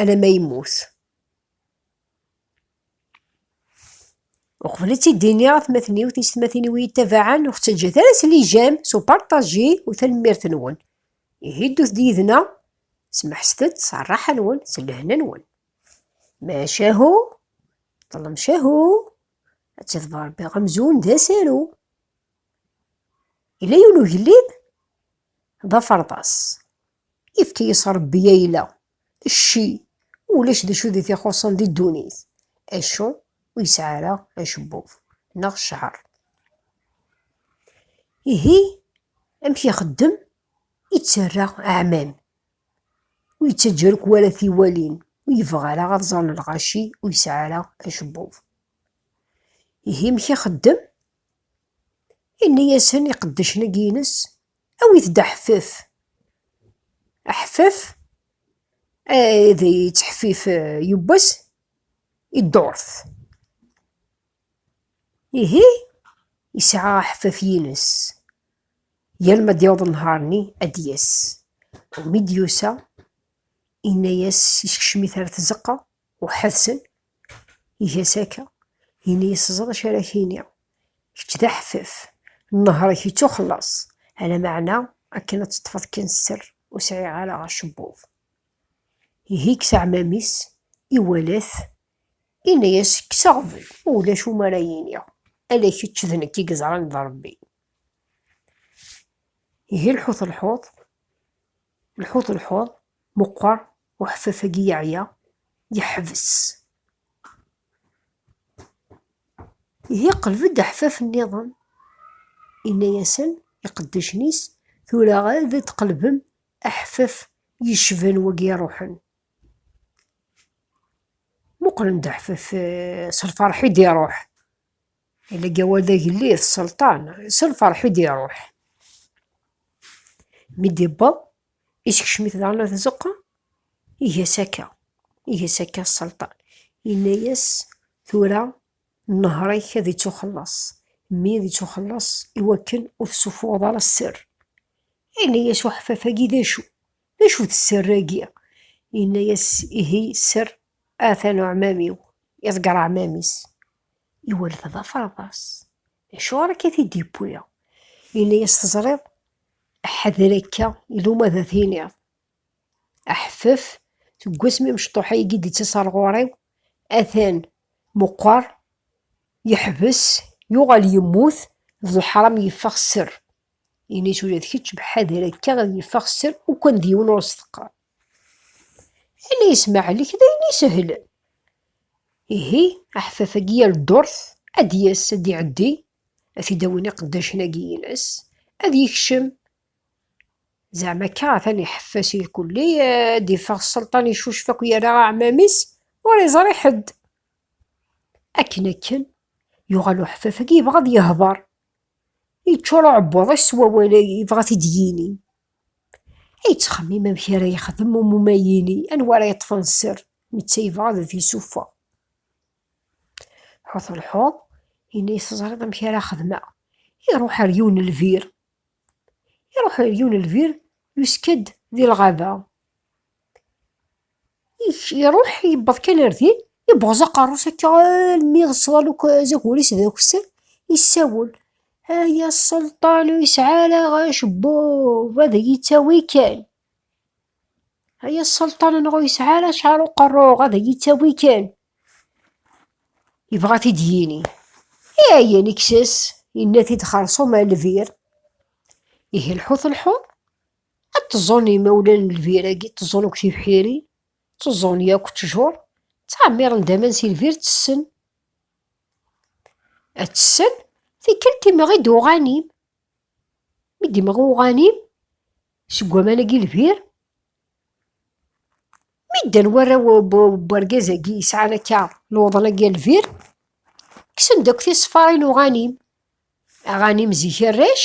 alamma yemmut. Uqbel ad tt-id-iniɣ atmaten-iw, tiysetmatin-iw i yi-ittabaɛen, ur ɣ-ttaǧǧat ara s lijam, s uparṭaji u tanemmirt-nwen. Ihi ddut-d yid-neɣ, smeḥset-d s rraḥa-nwen, s lehna-nwen. Macahu, ṭṭlem cahu, ad tt-iḍber Rebbi amzun d asaru. Yella yiwen ugellid d aferḍas. Ifk-iyi-s Ṛebbi ayla, cci, ulac d acu di t-ixuṣṣen di ddunit, acu ur yesɛi ara acebbub neɣ cceɛṛ. Ihi amek ixeddem i ttarra aɛmam, ur yettaǧǧa ara akk wara tiwalin, ur yebɣi ara ad ẓren lɣaci ur yesɛi ara acebbub. Ihi amek ixeddem? Yenna-yasen iqeddacen-agi-ines, Awit-d aḥeffef. Aḥeffef ad yettḥeffif yubbes i ddurt. Ihi yesɛa aḥeffef yines. Yal ma d-yaweḍ nnhar-nni ad d-yas. Mi d-yusa, yenna-yas yeskcem-it ar tzeqqa. Uḥedsen, iga-as akka, ini-as teẓriḍ acu ara ak-iniɣ, kečč d aḥeffef, nnehṛ-ik yettuxelleṣ, ala meɛna akken ad teṭṭfeḍ kan sser ur sɛiɣ ara acebbub. Ihi yekkes aɛmam-is, iwala-t, ini-as kkes aɣbel, ulac umi ara iniɣ, ala kečč d nekk i yeẓran d Ṛebbi. Ihi lḥut lḥuḍ, Lḥut lḥuḍ meqqer, uḥfaf-agi yeɛya, yeḥbes. Ihi qleb-d aḥfaf nniḍen, inna-yasen iqeddacen-is, tura ad d-tqelbem aḥfaf yecban wagi iruḥen. Muqlen-d aḥfaf s lferḥ i d-iruḥ. Lgawa d agellid, sselṭan, s lferḥ i d-iruḥ. Mi d-iwweḍ, isekcem-it daɣen ɣer tzeqqa, iga-as akka, iga-as akka sselṭan. Yenna-as, Tura nnehṛ-ik ad ittuxelleṣ, mmi ad ittuxelleṣ i wakken ur tessuffuɣeḍ ara sser. Yenna-as uḥeffaf-agi, D acu? D acu-t sser-agi? Yenna-as, Ihi sser, atan uɛmam-iw, iḍegger aɛmam-is. Iwellef-d aferḍas. Acuɣer akka i t-id-yewwi? Yenna-yas, Teẓriḍ, ḥader akka, iluma ad t-iniḍ. Aḥeffef, seg wasmi amecṭuḥ-a i d-ittas ar ɣur-i, atan meqqer, yeḥbes, yuɣal yemmut, d leḥram yeffeɣ sser. Ini-as ula d kečč, ḥader akka ad yeffeɣ sser, ukkan d yiwen ur s-teqqar. Ala ismaɛel-ik d ayen isehlen. Ihi, aḥfaf-agi yal ddurt ad d-yas, ad d-iɛeddi, ad t-id-awin iqeddacen-agi-ines, ad yekcem. Zeɛma akka atan iḥeffes si lkulli, ad d-iffeɣ sselṭan icucef akk yerra aɛmam-is, ur iẓri ḥedd. Akken akken, yuɣal uḥfaf-agi yebɣa ad yehder, yeččur uɛebbuḍ-is s wawal-agi, yebɣa ad t-id-yini. Ay yettxemmim amek ara yexdem umumay-ini, anwa ara yeṭṭfen sser, netta yebɣa ad t-yessufeɣ. Ḥut lḥuḍ, yenna-yas teẓriḍ amek ara xedmeɣ. Iruḥ ar yiwen n lbir. Iruḥ ar yiwen n lbir, yuska-d di lɣaba. Iruḥ yewweḍ kan ar din, yebɣeẓ aqerru-s akka almi yeṣḍal akk azagur-is d akessar, yessawel. Ay aselṭan ur yesɛi ara acebbub, ad iyi-ttawi kan. Ay aselṭan anɣa ur yesɛi ara acɛar uqerruɣ, ad iyi-ttawi kan. Yebɣa t-id yini. Ayen ikkes, yenna-t-id xersum a lbir. Ihi lḥut lḥuḍ. Ad teẓẓun yimawlan n lbir agi, tteẓẓun akk tibḥirin, tteẓẓun yakk ttjur, ttɛemmiren-d aman si lbir ttessen. Ad tessen, tikkelt imɣi-d uɣanim. Mi d-imɣi uɣanim, seg waman-agi lbir, mi ddan warraw n urgaz-agi yesɛan akka luḍen-agi n lbir, kksen-d akk tiṣeffarin uɣanim. Aɣanim zik arrac,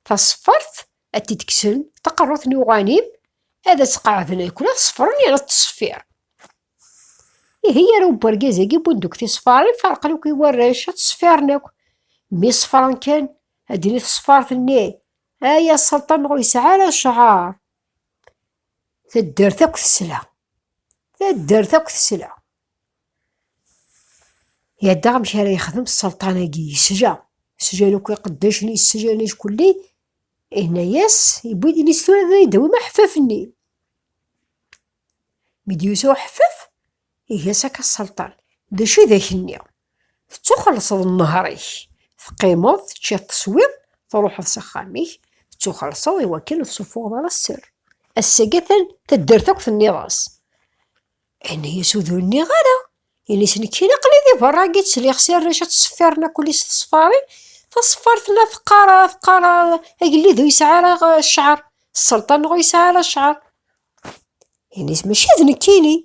taṣeffart ad t-id-kksen taqerrut n uɣanim ad as-qeɛden akken ad ṣefren yerna ttṣeffir ihi yara ubergaz-agi wwin deg tisfarin ferqen akk i warrac ad ttṣeffiren akk mi ṣefren kan ad d-tini tesfart-nni ay aselṭan ur yesɛi ara cɛar taddart akk tesla taddart akk tesla Yaddaɣ amek ara yexdem sselṭan-agi, yesja, sjan akk iqeddacen, yesjan ackulli, ihna-yas, yewwi-d ini tura ad yi-d-tawim aḥeffaf-nni. Mi d-yusa uḥeffaf, iga-s akka sselṭan, d acu i d ak-nni? Tettuxelṣeḍ nnehṛ-ik, teqqimeḍ, teččiḍ, teswiḍ, truḥeḍ s axxam-ik, tettuxelṣeḍ i wakken ur tessufuɣeḍ ara sser. Ass-agi atan taddart akk tenniḍ-as. Ini-as ur d-nniɣ ara. Ini-as nekk kan aql-i di berra agi ttliɣ si arrac ad ttṣeffiren akk li s teṣfarin. Taṣeffart la teqqar teqqar agellid ur yesɛi ara cceɛr, sselṭan ur yesɛi ara cceɛr. Ini-as mačči d nekkini.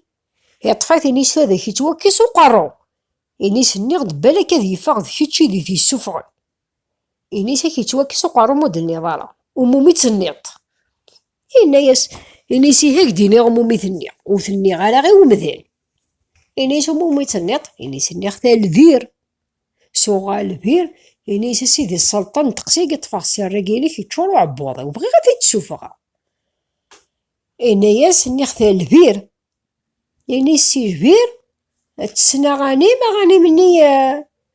Yeṭṭef-it ini-as ad ak-ittwakkes uqerru. Ini-as nniɣ-d balak ad yeffeɣ d kečč i d it-yessuffɣen. Inisi-k yettwakkes uqerru-m ur d-tenniḍ ara umumi d-tenniḍ-t. Yenna-yas, inisi-k ad k-d-iniɣ umumi tenniɣ, ur tenniɣ ara i umdan. Inis umumi d-tenniḍ, inisi nniɣ talbir. Suɣ albir, inisi a sidi sselṭan n teqsi i yeṭṭfeɣ si rrag-inek yeččur uɛebbuḍ-iw, bɣiɣ ad t-id-sufɣeɣ. Yenna-yas, nniɣ talbir, Ini sijbir tessen aɣanim, aɣanim-nni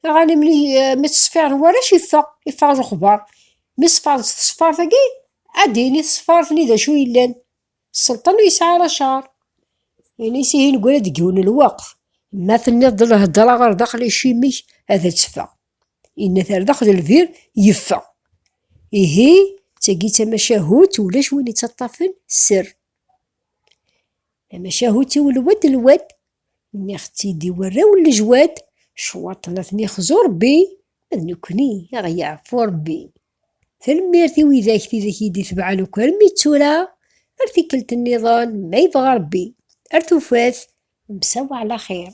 aɣanim-nni mi ttṣeffiren warrac yeffeɣ, yeffeɣ lexbar. Mi ṣeffaret s tṣeffart-agi, ad d-yini tṣeffart-nni d acu yellan. Sselṭan ur yesɛi ara cceṛ. Ini s ihi neggra-d deg yiwen n lweqt. Ma tenniḍ-d lhedṛa ɣer daxel icimi-k ad tteffeɣ. Yenna-t ar daxel lbir, yeffeɣ. Ihi d tagi d tamacahut ulac win ittaṭṭafen sser. Tamacahut-iw lwed lwed, nniɣ-tt-id i warraw n lejwad, cwaṭ la ten-ixzu Rebbi, ma d nekkni a ɣ-yeɛfu Rebbi. Tanemmirt i widak tidak i d-itebɛen akk armi d tura, ar tikkelt nniḍen ma yebɣa Rebbi, ar tufat nmsaw ɛla xir.